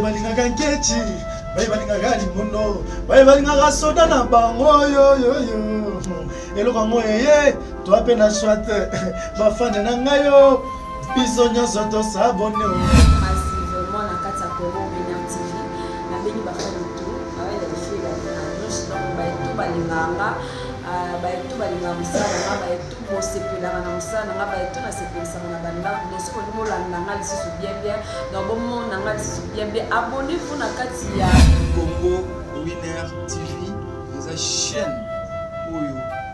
balingaka nketi baye balingaka limono baye balingaka soda na bango yoyoyo eloko yango eye toa mpe na swate bafane na ngai yo biso nyonso tosabone kasi vraiment na kati ya congo bena tv nabengi bafani to awaelefie baanonce donc baetu balinganga euh, baetu balingaka mosala na nga baetu bosepelaka na mosala na nga baetu nasepelisaka na bandako donc soki olingi olanda nga lisusu bien bien donc bomona nga lisusu bien bien abonnez-vous na kati ya congo winner tv eza chaîne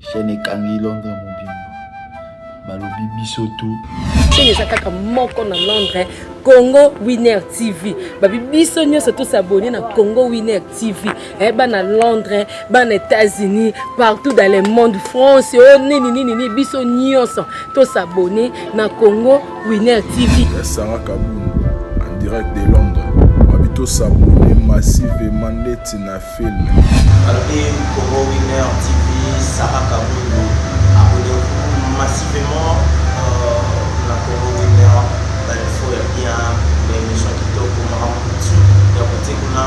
Chaîne ekangi Londres mobimba. Balobi biso tout. Chaîne eza kaka moko na Londres, Congo Winner TV. Babi biso nyonso tous abonner na Congo Winner TV. Eh bana Londres, bana États-Unis, partout dans le monde, France, oh nini nini nini biso nyonso tous abonner na Congo Winner TV. Sarah Kabou en direct de Londres. Babi tous abonner massivement ndeti na film. Alobi Congo Winner TV, Sarah Kabundu, abonnez-vous massivement na Congo Winner, ba infos ya bien, ba émission kitoko, makambo kutu ya kote kuna.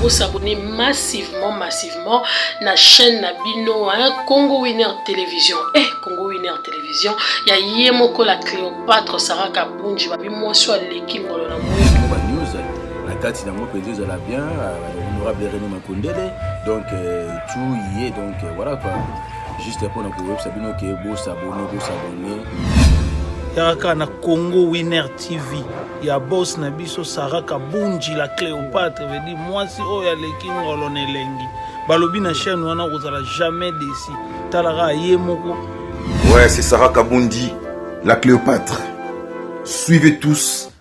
Vous s'abonnez massivement, massivement na chaîne na bino hein, Congo Winner Télévision. Eh, Congo Winner Télévision, ya yemoko la Cléopâtre Sarah Kabunji, babi mwasi aleki ngolo na mwindo. na kati nango mpenza ezala bien euh, honorable reni makondele donc euh, tout y est donc euh, voilà quoi juste mpona koyebisa bino ke bosabone bosabone yaka na congo winner tv ya bos na biso sara kabunji la cléopatre vedi mwasi oyo aleki ngolo na elengi balobi na chaîne wana okozala jamais desi talaka ye moko ouais c'est sara kabundi la cléopatre suivez tous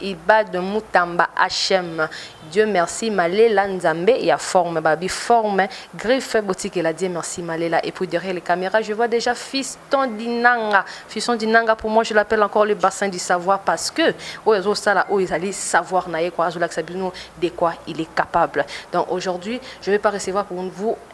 Ibad Mutamba HM. Dieu merci malela nzambe ya forme babi forme griffe botikela Dieu merci malela et puis derrière les caméras je vois déjà fiston dinanga fiston dinanga pour moi je l'appelle encore le bassin du savoir parce que oyo azo sala oyo ezali savoir na ye quoi azo lakisa bino de quoi il est capable donc aujourd'hui je vais pas recevoir pour vous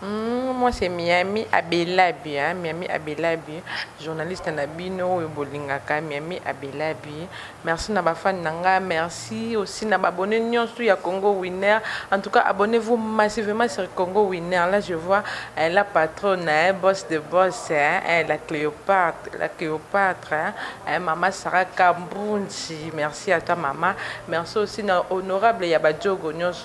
Hum, moi c'est Miami Abelabi, hein? Miami Abelabi, journaliste na bino oyo bolingaka Miami Abelabi. Merci na ba fan na nga, merci aussi na ba abonné nyonso ya Congo Winner. En tout cas, abonnez-vous massivement sur Congo Winner. Là je vois hein, la patronne, hein, boss de boss, hein, hein, la Cléopâtre, la Cléopâtre, hein, hein, maman Sarah Kambunji. Merci à toi maman. Merci aussi na honorable ya ba Djogo nyonso.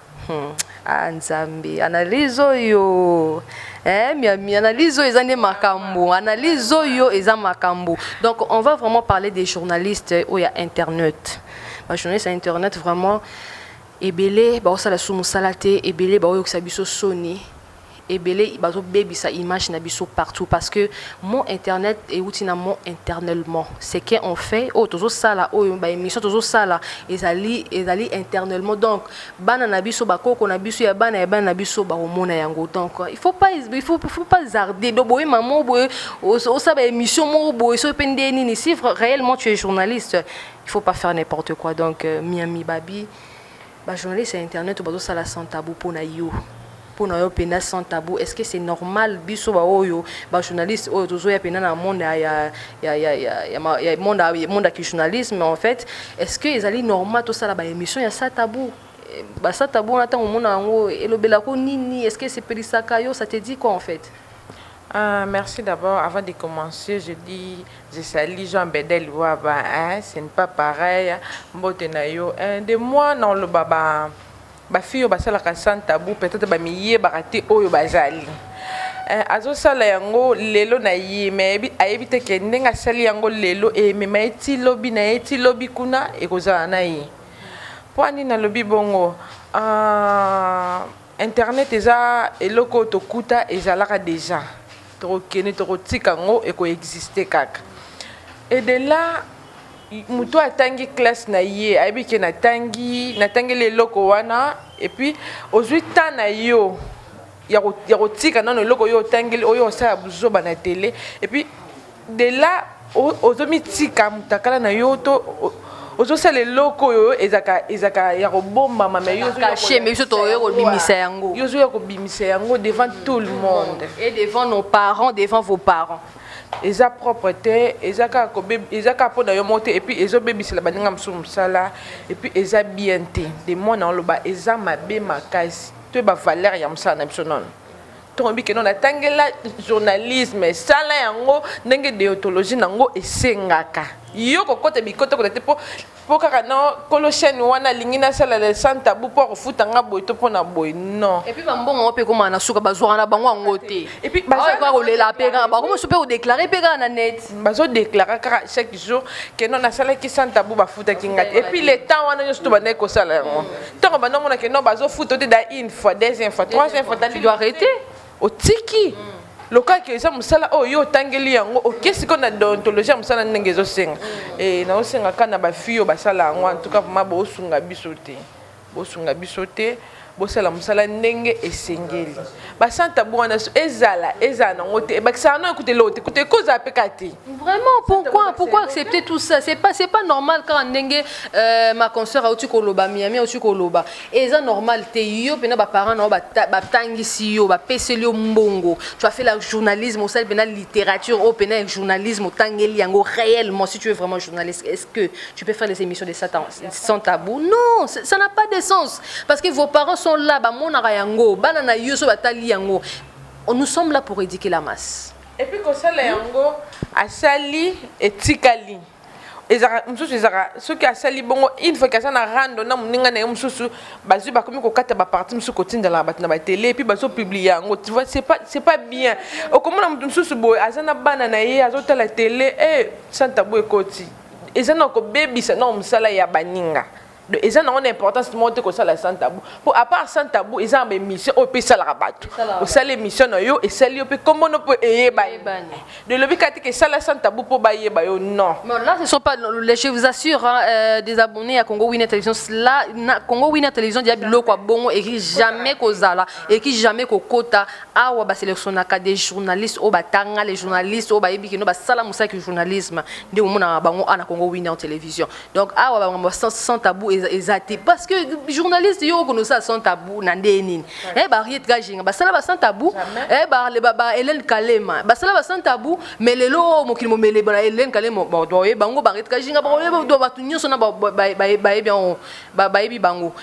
Hmm. Ah, nzambe analyse oyo eh, miami analyse oyo eza nde makambo analyse oyo eza makambo donc on va vraiment parler des journalistes oyo oh, ya internet bajournaliste ya internet vraiment ebele baosala su mosala te ebele baoyokisa biso soni ebele bazobebisa image na biso partout parce que mon internet euti na mon internellement ce que on fait oyo tozosala oyo baémission tozosala ezali ezali internellement donc bana na biso bakoko na biso ya bana ya bana na biso bakomona yango donc il faut pas il faut, il faut pas zarder donc boye mamo boye osa baémission moko boye soki mpe nde nini si réellement tu es journaliste il faut pas faire n'importe quoi donc euh, miami babi Ba journaliste ya internet bazo sala sans tabou pona yo. Pona yo penda sans tabou, est-ce que c'est normal biso ba oyo ba journaliste oyo tozo ya penda na monde ya ya ya ya ya, ya, ma- ya monde ya monde ya ki journalisme en fait, est-ce que ezali normal to sala ba émission ya sans tabou? Eh, Ba sans tabou na tango mona yango elobelako nini? Est-ce que esepelisaka yo? Ça te dit quoi en fait? Ah merci d'abord avant de commencer je dis je salue Jean Bedel Waba hein c'est ne pas pareil mbote na yo hein, de moi na loba ba ba fille basalaka sans tabou peut-être ba miye barate oyo bazali Eh, azosala yango lelo na ye me ayebi te ke ndenge asali yango lelo emema ye ti lobi na ye ti lobi kuna ekozala na ye mpo ani nalobi bongo ah, Internet eza eloko oyo tokuta ezalaka dejà tokokende tokotika yango eko existe kaka et de là moto oyo atangi classe na ye ayebi ke natangi natangeli eloko wana et puis ozwi temps na yo ya kotika nano eloko oyo otangeli oyo osala buzoba na tele et puis de là ozomitika mutakala na yo to ozosala eloko oyo ezaka ezaka ya kobombama mais yokache mais biso toye kobimisa yango yo ozoya kobimisa yango devant tout le monde et devant nos parents devant vos parents eza propre te eza kaka eza kaka mpo na yo moko te epuis ezobebisela baninga mosusu mosala epuis eza bien te de mwana oloba eza mabe makasi toyeba valeur ya mosala na biso nono Toyebi que non natangela journalisme sala yango ndenge deontologie nango esengaka yo kokota bikota kota te mpo mpo kaka na kolo chaîne wana alingi nasala le sans tabou mpo akofuta nga boye to mpo na boye non epuis bambongo yango mpe ekomaka na suka bazwaka na bango yango te epuis baoyekoka kolela mpe kaka bakomosu mpe kodeklare mpe kaka na net bazodeklare kaka chaque jour keno nasalaki sans tabou bafutaki nga te epuis le temps wana nyonso to bandaki kosala yango Tango banda mona que non bazo futo te da une fois, deuxième fois, troisième fois, tu dois arrêter. Otiki. Mm. lokola ke eza mosala oyo yo otangeli yango oke sikoyo na deontologie ya mosala ndenge ezosenga mm. eh, naosenga kaka na bafille oyo basala yango antuka vraimen boosunga biso te bosunga biso te bosala mosala ndenge esengeli basanta bwana ezala ezala nango te ebakisaka no ekute eloko te kuta ekozala mpe ka te vraiment pourquoi pourquoi accepter tout ça c'est pas c'est pas normal kaka ndenge euh, ma concert auti koloba miami auti koloba eza normal te yo mpena baparent na yo batangisi yo bapeseli yo mbongo tu as fait la journalisme osali mpena littérature oyo mpena ya journalisme otangeli yango réellement si tu es vraiment journaliste est ce que tu peux faire les émissions de satan sans tabou non ça n'a pas de sens Parce que vos parents sont là, ba monaka yango, bana na yo so batali yango. Nous sommes là pour éduquer la masse. Et puis kosala yango asali etikali. ezaka mosusu ezaka soki asali bongo une fois kaza na rando na moninga na ye mosusu bazwi bakomi kokata baparti mosusu kotindala bato na batele epuis bazopublie yango tu vois c'est pas bien okomona moto mosusu boye aza na bana na ye azotala tele e eh, santabu ekoti eza na kobebisa na mosala ya baninga Donc, eza nango na importance moko te kosala sans tabou mpo à part sans tabou eza na baémission oyo mpe esalaka bato Esalaka osali émission na yo esali yo mpe nkombo no mpo eyebani Eyebani. de lobi kati ke esala sans tabou mpo bayeba yo non Bon, là, ce sont pas. les- Je vous assure, hein, euh, des abonnés à Congo Winner Télévision. Là, na, Congo Winner Télévision, Diaby Loko Bongo, et qui jamais Kozala, et qui jamais Kokota, Awa, ba sélectionnaka des journalistes, au Batanga, les journalistes, au Baebi, qui n'ont pas sala moussa que journalisme, des moments à Bango, à Congo Winner Télévision. donc awa bamakambo sans, sans tabou eza te parce que journaliste yo okona osala sans tabou na ndenge nini eh, bariete kajinga basala ba sans tabou eh, ba, ba, ba hélène kalema basala ba sans tabou mais lelo oyo oh, mokili momele bana hélène kalema baoye bango bariete kajinga baoye bato nyonso na bayebi yango bayebi bango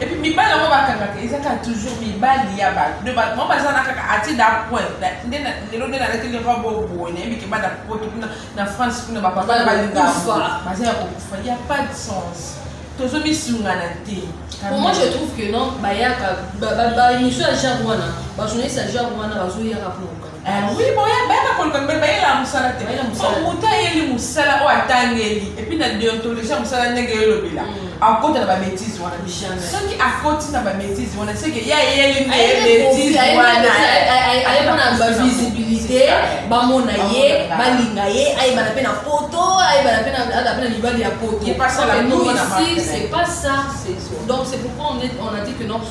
Et puis mibali yango bakangaka eza kaka toujours mibali ya bato de bato bango baza na kaka atie da point nde lelo nde nalateli robe oyo boye nayebi keba na poto kuna na france kuna bapapa na balingafa baza ya kokufa ya pas de sens tozomisungana te Pour moi, je trouve que non, Bayaka, bah, bah, bah, une seule genre, voilà. Bah, je n'ai sa genre, voilà, bah, je n'ai pas pour Ah oui, boya bana koloka mpe bayela mosala te po moto ayeli mosala oyo atangeli epuis na deontologie ya mosala ndenge elobela mm. akota na babetise wana soki akoti na babetise wana seke ye ayeli nde betise wanavisibilité bamona ye balinga ye ayebana mpe na poto ayebana mpe na mibali ya poto donc c'est pas ça donc c'est pourquoi on a dit que non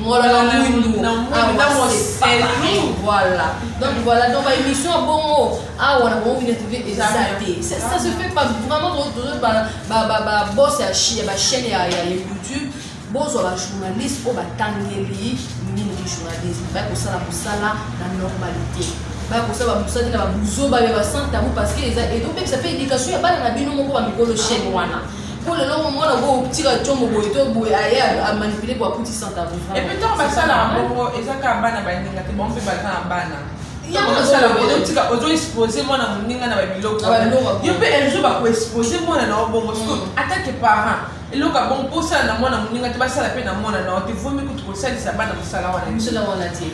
ngolala mwindu awa seselou voilà donc voilà donc baémission ya bongo awa na bongo bina tv eza te ça se fait pas vraiment babos ya bachaîne ya youtube bozwa bajournaliste oyo batangeli mingi journalisme baya kosala mosala na normalité baya kosala bamosala te na babuzoba ya basanta yango parce que eza ezobebisa mpe éducation ya bana na bino moko bamikolo chaîne wana Pour le long, moi, on va tirer un chombo, on va aller à manipuler pour coûter 100 euros. Et puis, tant que ça, là, bon, et ça, quand on va à Bandiga, on peut pas à Bana. ozoexpose mwana moninga na babiloko yo mpe un jour bakoexpose mwana na yo bongo siko mm. atake parent eloko ya bongo mposala na mwana moninga te basala mpe na mwana na yo te vomi kutu kosalisa bana mosala wana mosala wana te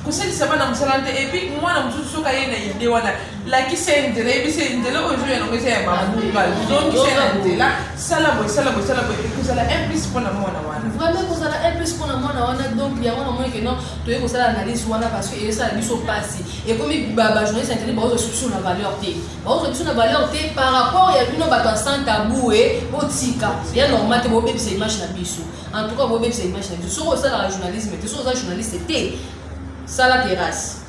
kosalisa bana mosala te epuis mwana mosusu soki aye na ide wana lakisa ye nzela yebisa ye nzela oyo ezoya nango eza ya babuka zongisa ye na nzela sala boye sala boye sala boye ekozala implice mpo na mwana wana vraiment ekozala implice mpo na mwana wana donc yango namoni keno toye kosala analyse wana parce que ezosala biso mpasi ekomi bajournaliste interne baozo biso na valeur te baozo biso na valeur te par rapport ya bino bato ya sans tabou e botika ya normal te bobebisa image na biso en tout cas bobebisa image na biso soki osalaka journalisme te soki oza journaliste te sala terrasse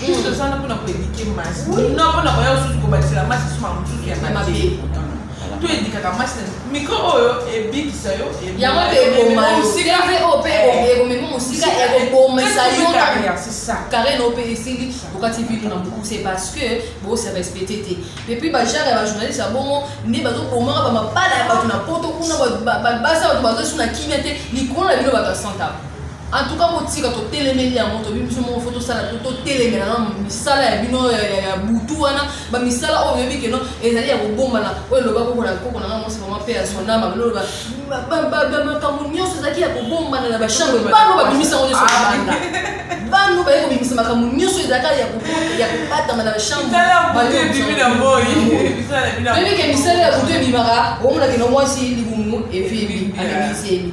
Juste oza na mpona koedike masi no mpona koya osusu kobakisela masi suma mosusu ya mabe to edikaka masi na mikro oyo ebikisa yo yango mpe eboma yo teve oyo mpe ekomema mosika ekobomisa yo carrière na yo mpe esili okati vino na mokuse parce que bosa respecte te epuis bajare ya bajournaliste ya bongo nde bazobomaka bamabala ya bato na poto kuna babasa bato bazosu na kimia te likolo na bino bato ya santa En tout cas botika totelemeli yango tobi biso moko fo tosala to totelemela na misala ya bino ya butu wana bamisala oyo oyebi keno ezali ya kobombana oyo eloba koko na koko nanga mosi mama mpe ya sonama biloloba makambo nyonso ezalaki ya kobombana na bachambre bano babimisa yango nyonso banda bano baye kobimisa makambo nyonso ezalaka ya kobatama na bachambretoyebi ke misala ya butu ebimaka omonakeno mwasi libumu evibi abimisi ebi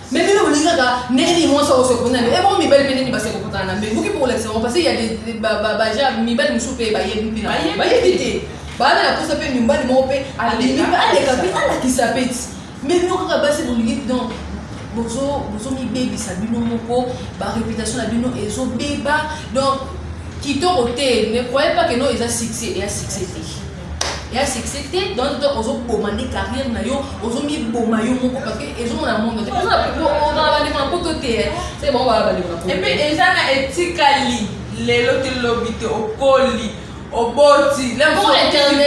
Mais bino bolingi kaka ndenge nini mwasi akosi kokutana na yo ebongo mibali mpe nini basi kokutana na mbe buki mpo kolakisa yango parce ya baja mibali mosusu mpe bayebi mpe na bayebi te baana na kosa mpe mibali moko mpe abimi mpe aleka mpe alakisa mpe ti mais bino kaka basi bolingi donc bozomibebisa bino moko bareputation na bino ezobeba donc kitoko te ne croyez pas que no eza succès eya succès te ya succès te donc donc ozoboma nde carrière na yo ozomiboma yo moko parce que ezomona monde te ozana bandeko na poto te se bango baa bandeko na poto epe eza na etikali lelo te lobi te okoli oboti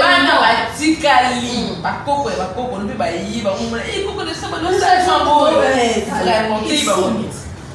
bana batikali hmm. bakoko ya bakoko lobi bayiba omona ekoko eh, na saba losaboyo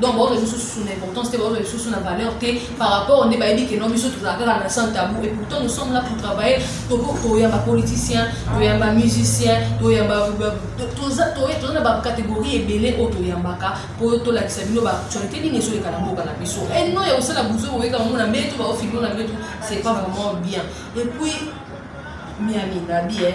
donc baoyo lisusu susu na importance te baoyo lisusu na valeur te par rapport nde bayebi ke non biso tozala kaka na sans tabou et pourtant nous sommes là pour travailler toyamba politicien toyamba musicien toyamba toza na bacatégorie ebele oyo toyambaka mpo tolakisa bino baactualité nini ezoleka na mboka na biso et non ya kosala buzo boyeka mona mbetu baofilmo na mbetu c'est pas vraiment bien et puis miami nabi eh.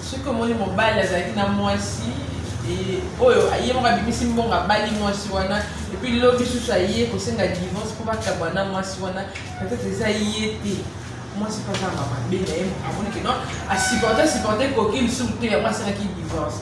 Soki omoni mobali azalaki na mwasi oyo ye moko abimisi mbongo abali mwasi wana epuis lobi susu aye kosenga divorce mpo bakabwa na mwasi wana peut-être eza ye te mwasi mpe azanga mabe na ye amoni ke non asupporte asupporte koki lisusu te yango asalaki divorce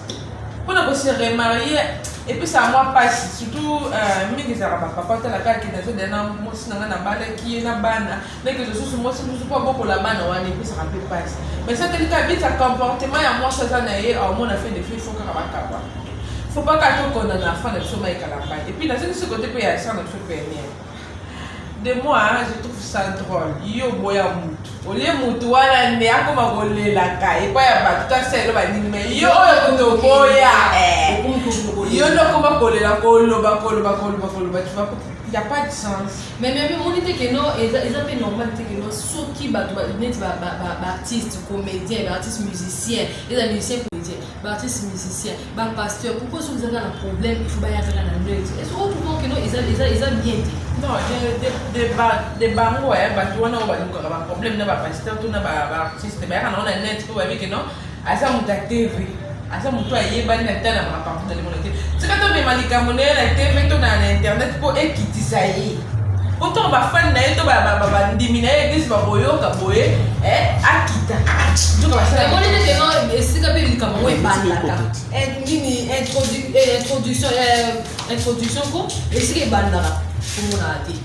mpo na kose remarie epesaka mwa mpasi surtout euh, mingi ezalaka bapapa talaka ke nazodela na mwasi na ngai nabalaki ye na bana ndenge mosusu mwasi mosusu mpo abokola bana wana epesaka mpe mpasi mais soki elika abisa comportement ya mwasi aza na ye aomona fe defi fo kaka bakaba fo baka tokona na afan na biso mayekala mpai epuis nasengi si kote mpe ya san na biso peniere de moi je trouve ça drôle yo boya mutu olie mutu wana nde akoma kolelaka epai ya bato tasa elo banini me yo oyo kutu oboya eh. yo nde okoma kolela koloba koloba koloba koloba tu vas ya pas de sens mais mais omoni te keno eza eza pe normal te keno soki bato neti baartiste comédien baartiste musicien eza musicien comédien baartiste musicien bapasteur pourquoi soki ezaka na problème il faut baya kaka na neutre est ce que okomprend keno eza eza eza bien te non de bango ya bato wana oyo balukaka baproblème na bapasteur to na baartiste bayaka nango na net mpo bayebi keno aza moto ya tv aza moto ayebani na ta na makambo na limona te tika tomema likambo na ye na tv to na na internet mpo ekitisa ye mpo ntango bafani na ye to bandimi na ye eglise bakoyoka boye eh, akita esika mpe likambo yango ebandaka eh, nini eh, introduction ko esika ebandaka komonaka te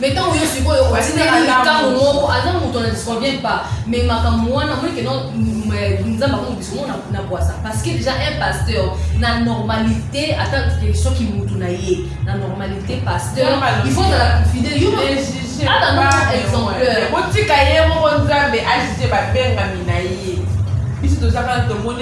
mais ntango yo sikoyo otindeli likambo moko aza moto na disconvient pas mais makambo wana omoni keno nzambe akomi biso ngo na bwasa parce que déjà un pasteur na normalité ata soki motu na ye na normalité pasteur il faut ozala fidèle yo ata no exemplaire botika ye moko nzambe ajuge babengami na ye biso tozaka tomoni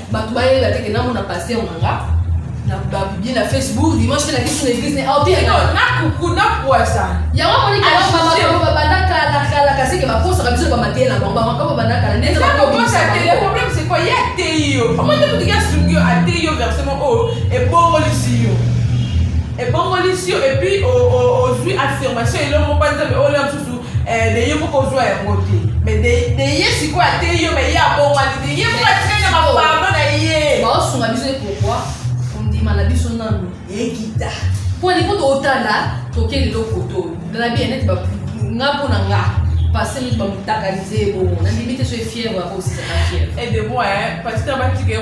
bato bayeba te ke namona paster na nga na babibie na facebook dimanche mpe nakisi na eglise ne aoteyaka nakuku nakwasa yango amoniki yango babanda kala kala kasi ke bakosaka biso bamateye na bango bamaka babanda kala ndete problème c'est quoi ye ateyi yo omoni moto ki asungi yo ateyi yo verse moko oyo ebongolisi yo ebongolisi yo epuis ozwi affirmation elongo mpo nzambe oyo lya mosusu Eh, de ye moko ozwa yango te mais de ye sikoyo ateyi yo mais ye abongwani te ye moko atikali na mapardo na ye baosunga biso ye pourkoi kondima na biso nanu ekita mpo alingi totala toke lelo koto na bien neti nga mpo na nga pase neti bamotakalize ye bongo nandimi te so efièvre akosisaka fièvre edemo patita batika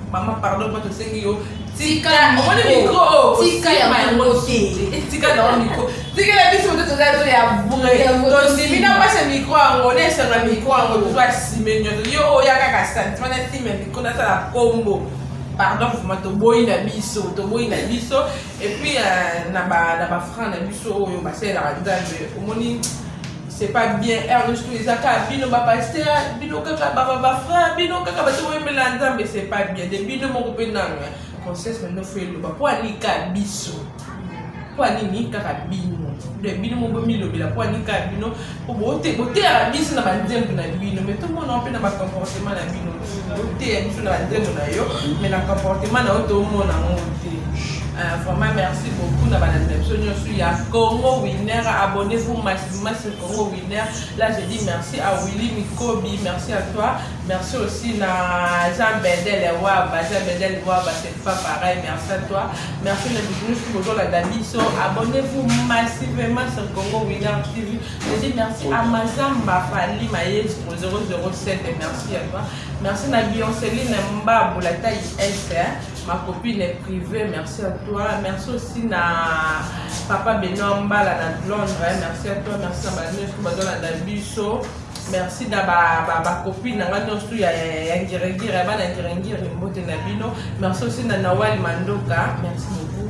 Mama pardon mpo tosengi yo tika omoni mikro tika yango te tika nango mikro tikela biso moto toza to ya vrai tondimi na mpasa mikro yango na esanga mikro yango tozwa sime nyonso yo oya kaka santima na sime ya mikro nasala kombo pardon vraimen toboyi na biso toboyi na biso epuis euh, na bafranc na biso oyo basalelaka nzambe omoni C'est pas bien Ernesto eza kaka bino ba pasteur bino kaka ba ba frère bino kaka bato oyembela nzambe c'est pas bien de bino moko mpe nanu conscience na bino fo eloba mpo anika biso mpo anini kaka bino de bino moko bomilobela mpo anika bino mpo boteyaka biso na banzembo na bino mais tomonaka mpe na bacomportement na bino oteya biso na banzembo na yo mais na comportement na yo tomona yango te euh, vraiment merci beaucoup na balandi na biso nyonso ya congo winner abonne vous maximum sur congo winner là je dis merci à willy mikobi merci à toi merci aussi na jean bedel waba jean bedel waba c'est pas pareil merci à toi merci na biso nyonso bozolanda biso abonne vous maximum sur congo winner tv Je dis merci à Mazamba Fali Maestro 007, merci à toi. Merci à Bionceline Mbabou, la taille S, hein. ma copine est privée, merci à toi. Merci aussi à Papa Benoît Mbala à Londres, hein. merci à toi, merci à Manuel Kumadona Dabiso. merci na bacopine na ngai nyonso ya ngiringiri ya bana ngiringiri mbote na bino merci aussi na nawali mandoka merci beaucoup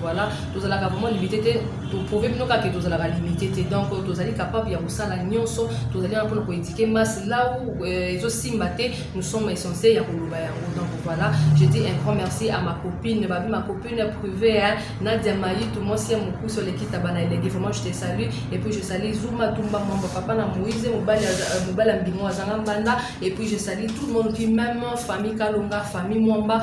Voilà, tozalaka vraiment limité te, toprouve bino kaka tozalaka limité te. Donc tozali capable ya kosala nyonso, tozali wana mpona koéduquer masse là où euh, ezosimba te, nous sommes essentiels ya koloba yango. Donc voilà, je dis un grand merci à ma copine, babi ma copine privée, hein, Nadia Mayitu, mwasi ya mokuse oleki taba na elenge, vraiment je te salue. Et puis je salue Zuma Tumba Mwamba, papa na Moïse, mobali euh, mobali ya mbingo azanga mbanda. Et puis je salue tout le monde qui même famille Kalonga, famille Mwamba,